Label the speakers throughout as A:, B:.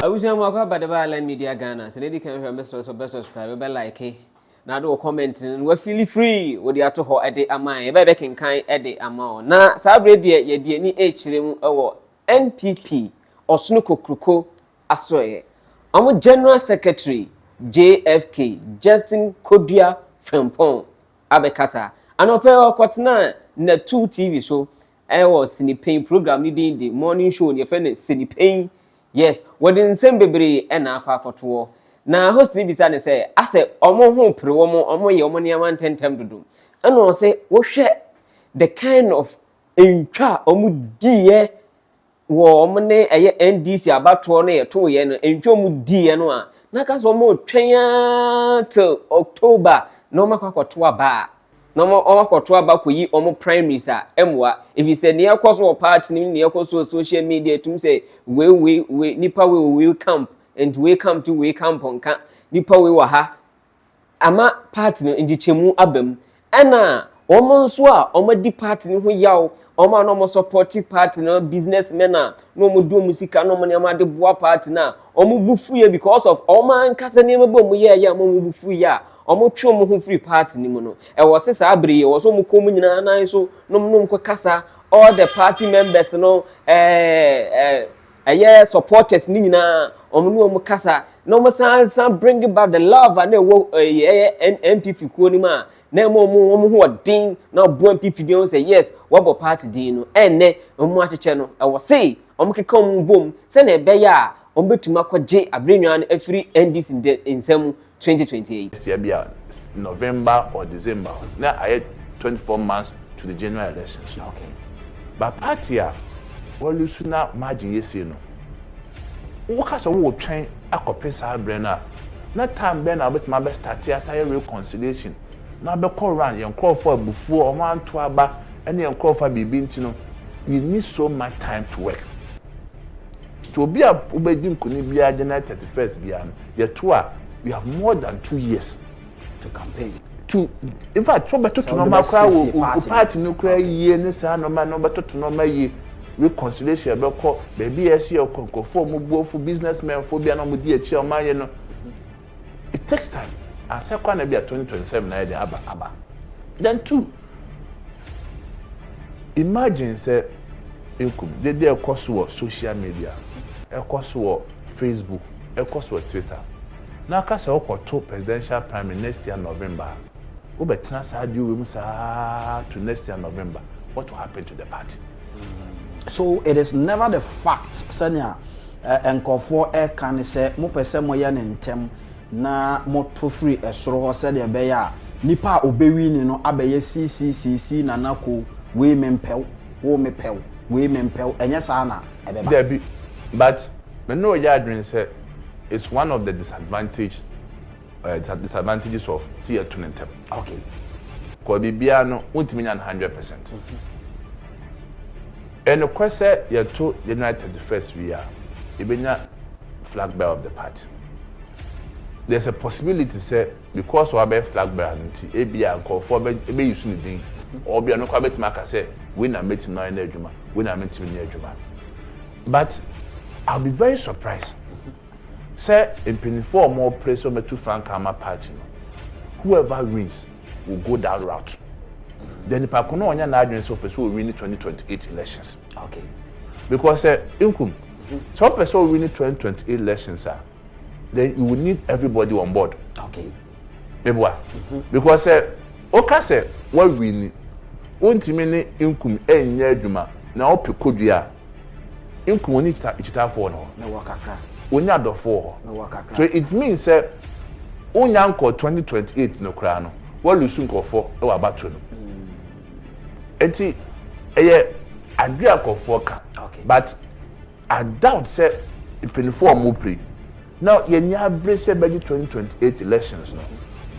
A: abusua mu akɔ abadaba alan media ghana sɛ n'edi kan hwɛ mɛsrɛ sɛ bɛ subscribe bɛ like na ade wɔ comment no wafili free wɔde ato hɔ ɛde ama yɛ bɛɛ bɛkenkan ɛde ama ɔ na saa berɛ deɛ yɛde ani ɛkyerɛ mu ɛwɔ npp ɔsono kokroko asoɛeɛ. Wɔn General Secretary JFK, Justin Kodua Frimpong abɛkasa. Anɔpa yi ɔkɔtenaa Natu TV so wɔ Sinipen program no din de Morning Show no yɛfrɛ no Sinipen. Yes, wɔde nsɛm bebree na akɔ akɔtoɔ. Na host no bisa no sɛ, asɛ wɔn ho pere wɔn, wɔyɛ wɔn nneɛma ntɛmntɛm dodo. Ɛna ɔse, wohwɛ the kind of ntwa a wɔdiiɛ wɔ wɔn ne ɛyɛ NDC abatoɔ no yɛtoo yɛ no ntwa wɔn di yɛ no a na ka sɛ wɔn twɛn aa till October na wɔn akɔ akɔto aba a na wɔn akɔto aba kɔyi wɔn primaries a ɛmoa efisɛ nea ɛkɔ so wɔ party no mu nea ɛkɔ so wɔ social media etum sɛ wei wei wei nipa wei wɔ wei camp nti wei camp ti wei camp nka nipa wei wɔ ha ama party no nkyekyɛmu aba mu, ɛna wɔn nso a wɔadi party no ho yaw, wɔn a na wɔn support party no, business men a na wɔn de wɔn sika na wɔn nneɛma de boa party no a wɔn bu fuiɛ because of wɔn ankasa nneɛma bi a wɔn yɛɛyɛ ama wɔn bu fuiɛ a wɔn twe wɔn ho firi party no mu no. Ɛwɔ se saa bere yi ɛwɔ se wɔn kɔ wɔn nyinaa nan so nom nom kɔ kasa all the party members no ɛɛ ɛɛ. Ɛyɛ supporters no nyinaa wɔn ne wɔn kasa na wɔn san san bring back the love a na ɛwɔ ɛyɛ ɛyɛ N NPP kuo no mu a na ɛma wɔn wɔn ho ɔden na ɔboa NPP din wɔn sɛ yes wɔabɔ party din no ɛnnɛ wɔn akyekyɛ no ɛwɔ se wɔn keka wɔn bom sɛnea ɛbɛyɛ a wɔn bɛtumi akɔgye aberenwaa no afiri NDC nsam twenty twenty eight. Sia bi a
B: November or December hɔ na ayɛ twenty four months to the general elections no okay
C: but party
B: a wa lose na margin yɛ sei no wo ka sɛ wo wɔ twɛn akɔ pe saa brɛ no a na time bɛn na wo bɛtumi abɛ starte asa yɛ reconciliation na abɛ kɔ run yɛ nkorɔfoɔ abufuo ɔmo anto aba ɛne yɛ nkorɔfoɔ a biribi nti no you need so much time to work. Nti obi a wobɛgye nkunim biara January thirty first biara no yɛto a you have more than two years to
C: campaign to in
B: fact sɛ wobɛtoto nɔɔma koraa wɔ party no koraa yie ne saa nɔɔma no wobɛtoto nɔɔma yie reconciliation bɛkɔ baabi a ɛsɛ yɛ kɔ nkurɔfoɔ a wɔn buafo business men foɔ bi a na wɔn di akyi a wɔn ayɛ no. It takes time, ansa koraa na bi a twenty twenty seven ayɛ dɛn aba aba. Then two, imagine sɛ ekum, dede a ɛkɔ so wɔ social media, ɛkɔ so wɔ Facebook, ɛkɔ so wɔ Twitter, na aka sɛ wokɔto presidential primary next year November a, wobɛtena saa adeɛ wei mu saa to next year November, what will happen to the party? So
C: it is never the fact sɛnea Nkurɔfoɔ reka ne sɛ, Mopɛ sɛ moyɛ no ntɛm na moto firi soro hɔ sɛdeɛ ɛbɛyɛ a nipa a ɔbɛwini no abɛyɛ siisiisiisii Nana Ko, wei mempɛ wo, wo mepɛ wo, wei mempɛ wo, ɛnyɛ saa na ɛbɛba. Dabi,
B: but me ne wo yɛ adwene sɛ it's one of the disadvantage uh, disadvantages of ti yɛ to ne ntɛm. okay.
C: kɔ
B: biribiara no wontumi nya no hundred percent. ɛnokorɛ mhm. sɛ yɛto january thirty first wie a yɛbɛnya flag bearer of the party. there's a possibility sɛ because wabɛyɛ flag bearer no nti ebia nkurɔfoɔ bɛyi so ne din ɔbia no kora bɛtumi aka sɛ wei na mɛtumi ayɛ no adwuma wei na mentumi nyɛ adwuma but i'll be very surprised Sɛ mpanyinfoɔ a wɔn pere sɛ wɔn bɛtu frankaa ama party no, whoever wins will go that route. Deɛ nipa ko no ɔnyɛ n'adwene sɛ ɔpɛ sɛ ɔwini twenty twenty eight elections. Okay.
C: Because
B: sɛ Nkum, sɛ ɔpɛ sɛ ɔwini twenty twenty eight elections a, then you will need everybody on board. Okay.
C: Meboa. Mm-hmm.
B: Because sɛ ɔka sɛ wawini, wontumi ne Nkum ɛnyɛ adwuma na ɔpɛ kodua a, Nkum wɔn akyitaafɔɔ no hɔ. Wɔnni
C: adɔfɔɔ
B: hɔ. So it means sɛ wonnya nkɔɔ twenty twenty eight no koraa no woalusu nkorɔfɔɔ wɔ abatoɔ no mu. Nti ɛyɛ adwene a nkorɔfɔɔ ka but I doubt sɛ mpaninfoɔ a wɔn pere. Na yɛnni abere sɛ bɛgye twenty twenty eight elections no.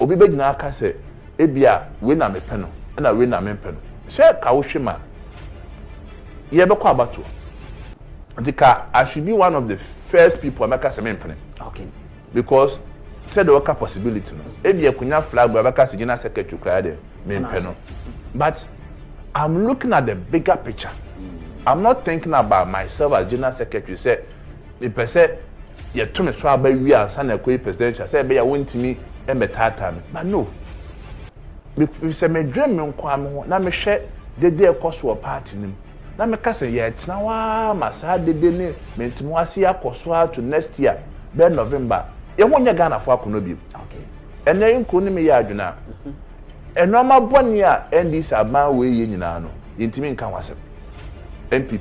B: Obi bɛgyina aka sɛ ebia wei na mepɛ no ɛna wei na mempɛ no. Sɛ ka wo hwɛ mu a, yɛbɛkɔ abatoɔ. Nti ka I should be one of the first people a mɛka sɛ mempene. Okay.
C: Because
B: sɛdeɛ ɔka possibility no, ebia kunya flag bearer bɛka sɛ gyina secretary koraa deɛ mempɛ no. But I'm looking at the bigger picture. I'm not thinking about myself as gyina secretary sɛ Mepɛ sɛ yɛto ne so aba wie ansa na ɛkɔyɛ presidential sɛ ɛbɛyɛ a wɔntumi mmɛtaataa me. But no. Efisɛ medwen me nko ara me ho na mehwɛ dede a ɛkɔ so wɔ party no mu na meka sɛ yɛretena hɔ ara ma saa dede ne mentemoase yi akɔ so ara to next year bɛyɛ November a, yɛn ho nyɛ Ghanafo akɔnnɔ bio. Ɛnnɛ
C: Nkrun ne
B: me yɛ adwene a, nnoɔma bɔne a NDC aban wei yɛ nyinaa no, yɛntumi nka ho asɛm. NPP.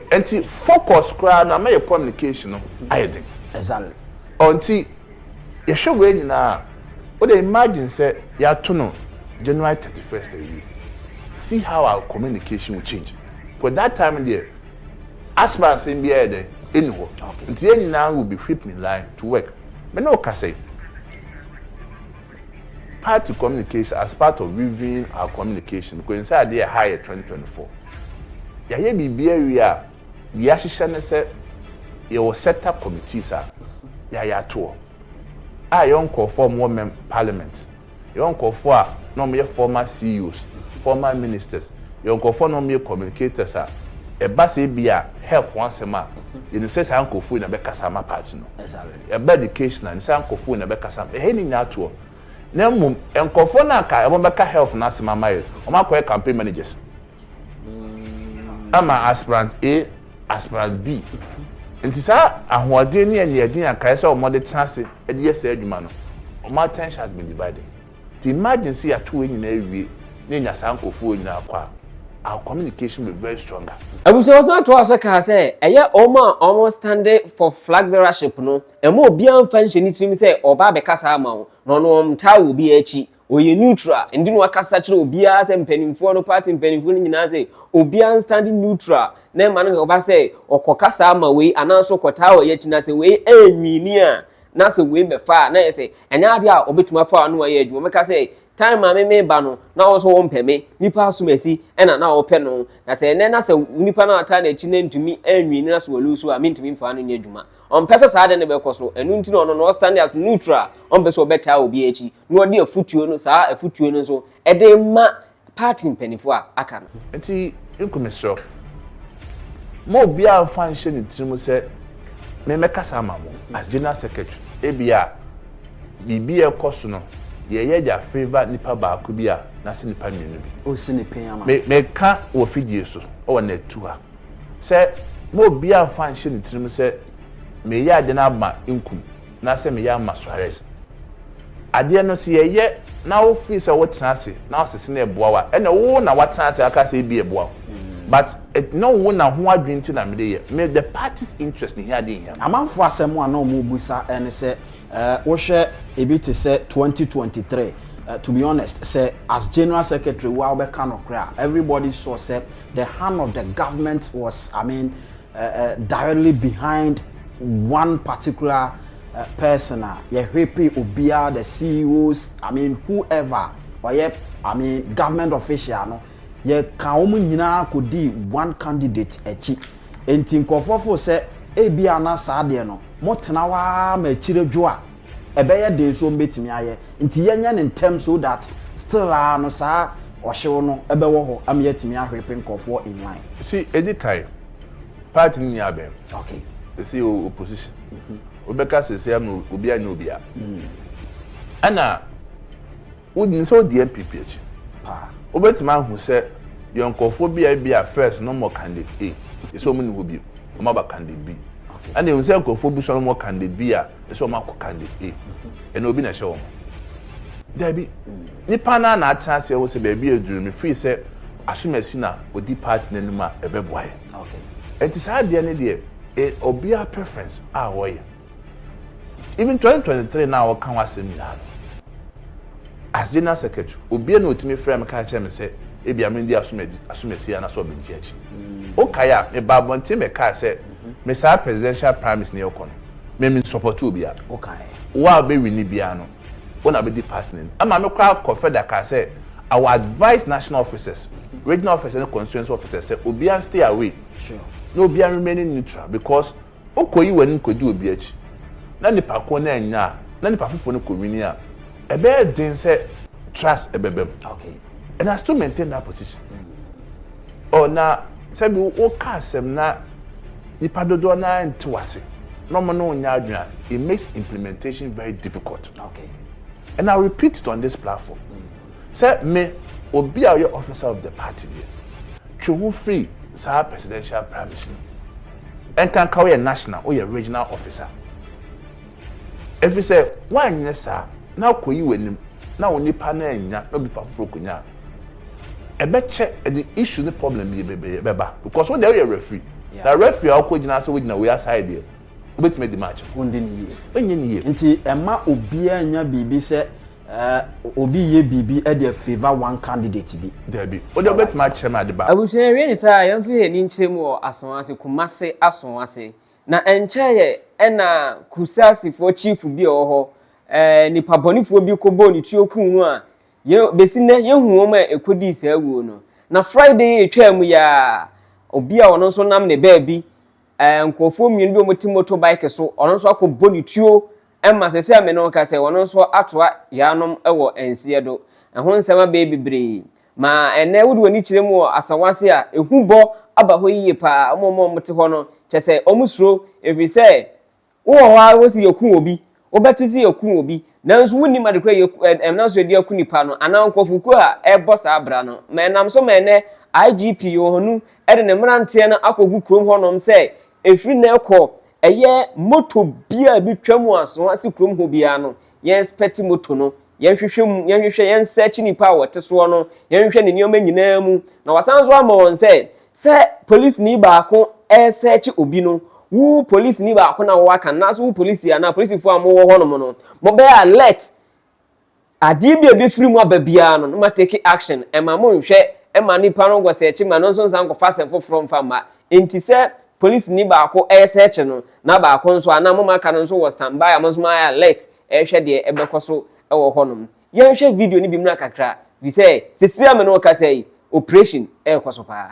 B: Nti focus koraa no ama yɛ communication no ayɛ den. Exactly.
C: Ɔ nti
B: yɛhwɛ wei nyinaa a, wo deɛ imagine sɛ yɛato no January thirty first awie, see how our communication will change because that time no deɛ asthma nsɛm biara yɛ dɛn? Ɛnni hɔ. Okay. Nti yɛn nyinaa will be whipped in line to work. Me ne wo kasa yi. Party communication as part of reviewing our communication Kwensaadi ɛha yɛ twenty twenty four yayɛ biribi awie a yahyehyɛ ne sɛ yɛwɔ set up committees a yayɛ atoɔ a yɛwɔ nkorɔfoɔ a wɔwɔ mɛm parliament yɛwɔ nkorɔfoɔ a na wɔn yɛ former CEOs former ministers yɛwɔ nkorɔfoɔ a na wɔn yɛ communicators a ɛba sɛ ebia health ho asɛm a yɛnim sɛ saa nkorɔfoɔ yi na bɛkasa ama party no. Ɛba education
C: a,
B: nnsɛ nkɔfoɔ nyina bɛkasa ma hɛn nyina atoɔ. Na mmom, nkɔfoɔ no a nka wɔn bɛka health no asɛm ama yɛn, wɔn akɔyɛ campaign managers ama aspirant A, aspirant B. Nti saa ahoɔden ne aniɛden a nka ɛsɛ sɛ wɔn de tena ase de yɛ saa adwuma no, wɔn attention has been divided. Imagine sɛ yɛato wei nyinaa awie na yɛnya saa nkurɔfoɔ wei nyinaa kɔ a, our communication will be very stronger. Abusuafo san toaa
A: so kaa sɛ, ɛyɛ wɔn a wɔ'stande for flag bearership no, ɛmma obiara mfa nhyɛ ne tirim sɛ ɔreba abɛkasa ama wo, na ɔno ɔnntaa wɔ obiara akyi, ɔyɛ neutral, ɛnde na wakasa akyerɛ obiara sɛ mpaninfoɔ no, party mpaninfoɔ no nyinaa sɛ obiara nstande neutral na ɛmma no nnkɔba sɛ ɔkɔkasa ama wei anaa nso ɔkɔtaa wɔ yɛn akyi, na sɛ wei annwini a, na sɛ wei bɛfa a na yɛ sɛ ɛnyɛ adeɛ a ɔbɛtumi afa ano ayɛ adwuma mɛka sɛ time maame meba no na ɔwɔ sɛ ɔmpɛ me nipa asomasi ɛna na ɔpɛ no na sɛ ɛnɛ na sɛ nipa no ata n'akyi na ntumi anwi ne na so ɔlu so a mentumi mfa no nyɛ adwuma ɔmpɛ sɛ saa de ne bɛkɔ so ɛno nti na ɔno no ɔstand as neutral ɔmpɛ sɛ ɔbɛtaa obi akyi na ɔde afutuo no saa afutuo no nso ɛde ma party mpanyimfo a aka no. Enti Nku
B: mesrɛ wo, mma obiara mfa nhyɛ ne tirim sɛ memmɛkasa ama mo as General Secretary. Ebia biribi a ɛrekɔ so no yɛreyɛ de afavour nnipa baako bi a n'ase nnipa mmienu bi. Ɔresi ne pɛn ama
C: no. Meka wɔ
B: fidie so wɔ nɛtu ha sɛ mma obiara mfa nhyɛ ne tirim sɛ mereyɛ ade no ama Nku. na sɛ meyɛ ama Suarez. Adeɛ no sɛ yɛyɛ na wo feel sɛ wotena ase na wosese no ɛboa wo a, ɛna wo na watena ase aka sɛ ebi ɛboa wo. But ɛnyɛ wo na ho adwene nti na mede yɛ. Me the party's interest ne hia adeɛ nhia me. Amanfoɔ asɛm a na
C: wɔrebisa ne sɛ wohwɛ ebi te sɛ twenty twenty three to be honest sɛ as general secretary wo ara wobɛka nokorɛ a everybody saw sɛ the hand of the government was I mean directly behind one particular person a yɛhwepe obiara the CEOs I mean whoever ɔyɛ I mean government official no yɛka wɔn nyinaa kɔdi one candidate akyi nti nkurɔfoɔ fo sɛ ebi ana saa deɛ no motena hɔ ara ma akyire dwo a ɛbɛyɛ den so ɔmbɛtumi ayɛ nti yɛnyɛ no ntɛm so that still aa no saa ɔhyew no bɛwɔ hɔ ama yɛatumi ahwepe nkorɔfoɔ in line. Nti ɛdi kan
B: party no nyɛ abɛn sɛsei
C: yɛwɔ
B: opposition wobɛka sɛsei ama obi anyɛ obi a ɛna Wonim sɛ odi NPP akyi paa.
C: Wobɛtumi ahu
B: sɛ yɛn nkorɔfoɔ bi a ebia first na wɔwɔ candidate A, ɛsɛ wɔn nni hɔ bio, wɔn aba candidate B. Ɛna yɛhu sɛ nkorɔfoɔ bi nso a na wɔwɔ candidate B a, ɛsɛ wɔn akɔ candidate A. Ɛna obi na ɛhyɛ wɔn? Daabi. Nnipa no ara na atena ase ahu sɛ baabi a aduru no mefiri sɛ asomasi na odi party no anim a ɛbɛboa yɛn.
C: Ɛnti saa adeɛ
B: no deɛ ɛyɛ obiara preference a ɔyɛ. Even twenty twenty three no a wɔka ho asɛm nyinaa no, as general secretary, obiara na otumi frɛ me ka kyerɛ me sɛ ebia mendi asomadi asomasi anaasɛ ɔbɛnti akyi. Wokae a, meba abɔnten bɛkaa sɛ me saa presidential primaries na yɛkɔ no, me mensupɔte obiara. Wokae. Wo a
C: wobɛwini
B: biara no, wo na wobɛdi party no anim. Ɛma me koraa kɔfrɛ da kaa sɛ I will advise national officers, regional officers ne constituency officers sɛ obiara nstay away na obiara
C: remain
B: neutral because Wokoyi w'anim kodi obi akyi na nipa koro no annya a, na nipa foforo no kɔ wini a, ɛbɛyɛ den sɛ trust bɛba mu. Okay. And I
C: still maintain
B: that position. Mm. Oh, na sɛbi woka asɛm na nipa dodoɔ no ara nte w'ase na wɔn ne wo nyɛ adwene a, it makes implementation very difficult. Okay.
C: And I
B: repeat it on this platform. Mm. Sɛ me, obi a ɔyɛ officer of the party deɛ, twe ho firi saa presidential primaries no mu. Ɛnkanka woyɛ national, woyɛ regional officer. Ɛfiri sɛ woanyɛ saa na akɔyi w'anim na wo nipa no annya na obi foforɔ kɔnya a, ɛbɛkyɛ ɛde issue ne problem bi bebree bɛba because wo deɛ woyɛ referee. Yeah. Na referee a wokɔgyina ase wogyina wei aside deɛ, wobɛtumi adi match no. Wondi ne yie. Wonyɛ
C: ne yie. Nti
B: ɛma obiara
C: nya biribi sɛ Eh, obi yɛ biribi de afavor one candidate bi. Dabi, o deɛ wobɛtumi
B: akyerɛ me ade ba. Abusua yɛwie ne saa a, yɛmfa
A: yɛn ani nkyerɛ mu wɔ asɔn ase, Kumase asɔn ase. Na ɛnkyɛeɛ ɛna Kusaasifoɔ chief bi a ɔwɔ hɔ, eh, nipa bɔnefoɔ bi kɔbɔɔ ne tuo kuu no a, yɛ, bɛsi nnɛ yɛnhu wɔn a ɛkɔdii saa wuo no. Na Friday a ɛtwaa mu yi ara, obi a ɔno nso nam ne baabi eh, nkurɔfoɔ mmienu bi a wɔte moto bike so, ɔno nso akɔ bɔ ne tuo ma sɛ sɛ a me ne ɔka sɛ ɔno nso atoa yaanom wɔ nseɛ do. Ɛho nsɛm abɛɛ bebree. Ma ɛnɛ wode w'ani kyerɛ mu wɔ asawa ase a, ehu bɔ aba hɔ yie paa. Wɔn a wɔte hɔ no, kyɛ sɛ wɔsuro, ɛfiri sɛ Wo wɔ hɔ ara wo se yɛku obi, wobɛte se yɛku obi, nanso wonnim ade koro a ɛnam so de aku nipa no anaa nkurɔfokuo a ɛrebɔ saa bra no. Ma ɛnam so ma ɛnnɛ IGP Yohannu de ne mmeranteɛ no akɔgu kurom hɔnom sɛ ɛfiri nnɛ rekɔ ɛyɛ motor biara a ɛbɛtwa mu asoa se kurom hɔ biara no yɛn expect moto no, yɛn hwehwɛ mu, yɛn hwehwɛ, yɛn search nipa a wɔte soɔ no, yɛn hwehwɛ ne nneɛma nyinaa mu. Na wasan nso ama wɔn sɛ, sɛ polisini baako research obi no, wo polisini baako na wɔaka no, nanso wo polisi anaa polisifoɔ a mowɔ hɔ nom no, mobɛyɛ alert. Adeɛ bi a ɛbɛfiri mu aba biara no, no ma take action. Ɛma monhwɛ ma nipa no nkɔ search ma no nso nsan nkɔfa asɛm foforɔ mfa mma. Enti sɛ Polisini baako resɛɛkye no, na baako nso a na wɔn a aka no nso wɔ standby a wɔn nso wɔayɛ alert rehwɛ deɛ ɛbɛkɔ so wɔ hɔnom. Yɛnhwɛ video no bi mmra kakra, ɛfiri sɛ seesei a me ne wo kasa yi, operation rekɔ so paa.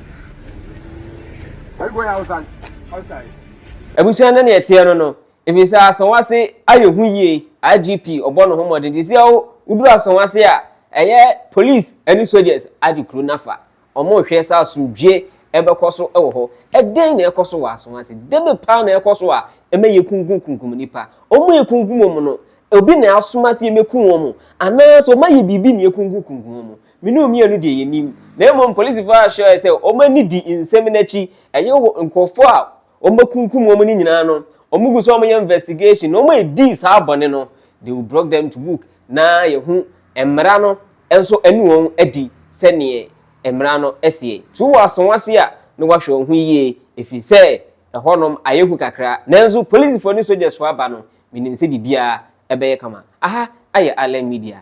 D: abusua no
A: ne ɛteɛ no no ɛfiri sɛ asɔnwase ayɛ ho yie igp ɔbɔ ne ho mmɔden te sɛ woduru asɔnwase a ɛyɛ police ne soldiers agye kuro no afa wɔrehwɛ sɛ asomdwie ɛbɛkɔ so wɔ hɔ ɛdɛn na ɛkɔ so wɔ asɔnwase debe paa na ɛkɔ so a ɛma yɛ kunkum kunkum nipa wɔn yɛ kunkum wɔn no obi na asoma sɛ yɛmɛku wɔn anaasɛ wɔn ayɛ biribi na yɛ kunkum kunkum wɔn Me ne wo mmienu deɛ yɛnim. Na mmom polisifo ahyɛ sɛ wɔn ani di nsɛm no akyi. Ɛyɛ wɔ nkurɔfoɔ a wɔakunkum wɔn no nyinaa no, wɔgu so a wɔyɛ investigation na wɔn a wɔdii saa bɔne no, they will brought them to book na yɛahu mmara no nso ne wɔn adi sɛdeɛ mmara no seɛ. Tu w'aso ase a na woahwɛ wo ho yie ɛfiri sɛ ɛhɔnom ayɛ hu kakra. Nanso polisifo ne sogyasfo aba no, menim sɛ biribiara bɛyɛ kama. Aha ayɛ Island Media.